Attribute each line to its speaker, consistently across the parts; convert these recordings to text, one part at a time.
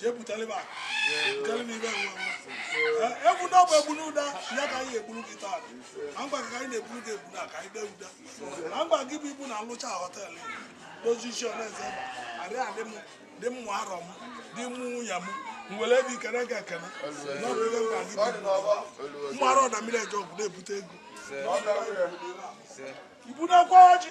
Speaker 1: jee butere m akụ butere m ibe nwa nwa Ee, ebunu ọ bụ ebunu ụda ya ka anyị egburu gị taa na mgba ka anyị na-egburu gị ebunu ka anyị dee ụda na mgba gị bụ ibu na nlụcha họteelụ dozie isi ọnaeze ma adị adị m dị mmụ arọ m dị mmụ nwunye m m were ebe ikenga ekene na ọ bụ ebe mkpa gị bụ mmụ arọ na mmiri eje ọgwụ na-ebute ego ibu na-ekwe ọjị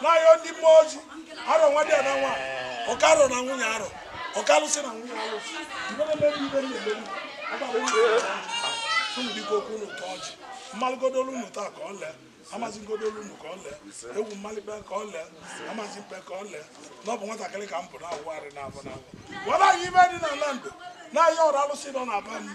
Speaker 1: na-ayọ ndị mmụọ ozi arọ nwa dị ya na nwa oke arọ na nwunye arọ oke alụsị na nwunye alụsị ibe na-eme ndị ibe na-eme ndị agbagbo ndị ibe na-eme. unu biko okwu unu tọọ ọchị mmalụgodo olu unu taa ka ọ lee amazi ngodo olu unu ka ọ lee egwu mmalịkpe ka ọ lee amazi mpe ka ọ lee na ọ bụ nwatakịrị ka m bụ na-awụ arụ n'afọ n'afọ gwara anyị ibe dị n'ala ndụ na-ayọ ọra alụsị nọ na be anyị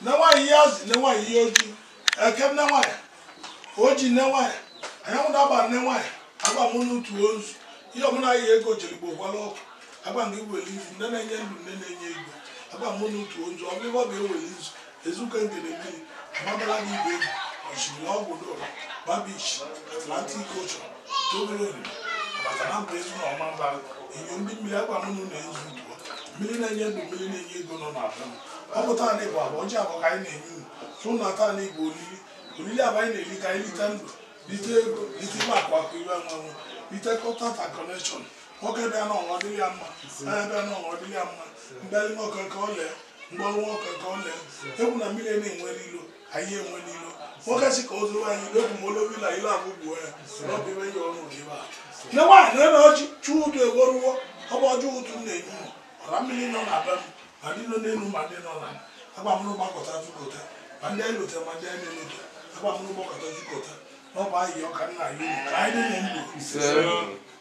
Speaker 1: nne nwaanyị iyi azụ nne nwaanyị iyi oji eke nne nwaanyị oji nne nwaanyị anyanwụ na agba nne nwaanyị agba m unu utu nzu iyi m na-enye ego jere igbo gwala ọkụ agba nke iwere izu nne na-enye ndụ nne na-enye ego agba m unu utu nzu ọ bụrụ ọ ga-ewere izu Ezuka Ngene Mmiri Omambala na ibe enyi ọchịrị ọgwụ dora Bar Beach atlantic ocean tobere oriri maka na mba ezu na ọma mba enyo ndị mmiri agwa m na ezu ugbua mmiri na-enye ndụ mmiri na-enye ego nọ na abịa ọ bụ taa na ịbụ abụ ọjị abụ ka anyị na-enye unu tụ na taa na ịbụ olili olili abụ anyị na-eli ka anyị lite ndụ lite ego lite ime akụ akụ iwe anwanwụ lite contact connection nwoke bịa na ọnwa dịrị ya mma onye bịa na ọnwa dịrị ya mma mbịarị nwoke nke ọ lee mgbe ọnwa ọka ka ọ na egwu na mmiri na-enwere ilo anyị enwere ilo nwoke si ka o zuru anyị egwu ma olobila ilo abụ gbuo ya n'ọbụ ibe ya ọrụ nke ibe a nne nwaanyị na ọjị ụtụtụ eruwo ọ bụ ọjị ụtụtụ na-enye ụlọ ọra mmiri nọ na be m ma ndị nọ n'elu ma ndị nọ n'ala agba m unu gbakọta zukọta ma ndị anyị lotara ma ndị anyị na-elota agba m unu gbakọta zukọta n'ọba ahịhịa ọka nna anyị unu ka anyị dị na ndụ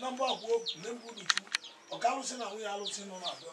Speaker 1: na mgbe akwụkwọ na mgbe ụtụtụ oke alụsị na nwunye alụsị nọ na-abịa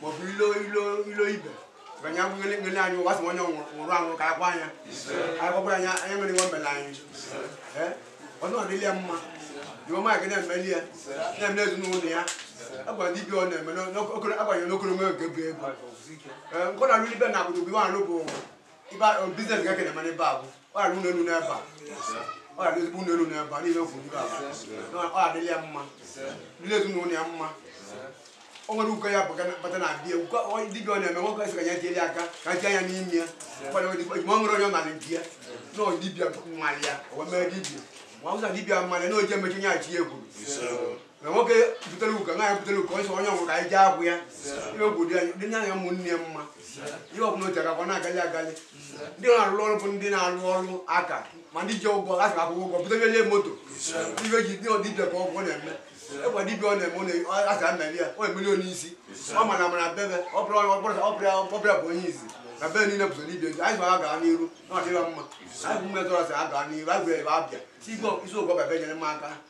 Speaker 1: maọbụ ilo ilo ilo ibe banye abụ ngele ngele anyị ụwa sị onye nwụrụ anwụrụ ka agwa anya anyị gwagwara anya anya nwere nwa mbele anyị ee ọnụ adịla ya mma iwe mmadụ na-emeli ya na-emeli ezinụlọ ya agwụ dibia ọ na-eme n'okoro agbanyere n'okoro nwe nke bụ ego ee nkọ na alụ ibe na abụrụ bụ iwe alụ bụ ibe a- biznes ga kene mana ebe a bụ ọ rara ụlọ elu n'ebe a ọ rara ezigbo ụlọ elu n'ebe a niile ofu ndị aba Na ọ adịla ya mma ndị ezinụlọ ya mma o nwere uko ya bụga bata na abịa uko ọ- dibịa ọ na-eme nwoke sị ka ya tieli aka ka tie ya n'ime ya ụfọdụ ndị ojima ọ nwere onye ọ nara di ya na ọ dibịa mmalị ya o wee mee dibịa ma ọ bụza dibịa mmalị na oje emechi onye achị ya ekwuru na nwoke butere ugo nwaanyị butere ugo ọsọ onye ọgwụ ka anyị jee agwụ ya ihe ogwu dị anyị- dị nye anya ụmụnne ya mma ihe ọbụla oji agakwa na-agali agali ndị na-arụ ọrụ bụ ndị na-arụ ọrụ aka ma ndị ji ụgwọ a ga-akwụ ụgwọ butebelie moto ibe ji dị dibịa ka ọgwụ ọ na-eme ịgwa dibịa ọ na-eme ọ na- ọ- a ga mmeri ya ọ emeli onye isi ọ mana mana bebe ọ bụrụ ọ bụrụ ọ bụrụ ọ bụrụ bụ onye izi na bebe niile bụso dibịa eji anyị ga gaa n'iru na ọdịla mma anyị bụ mmetụ ọsị a gaa n'iru anyị gwere ebe abịa si igwe isi ụgwọ bebe nyere m aka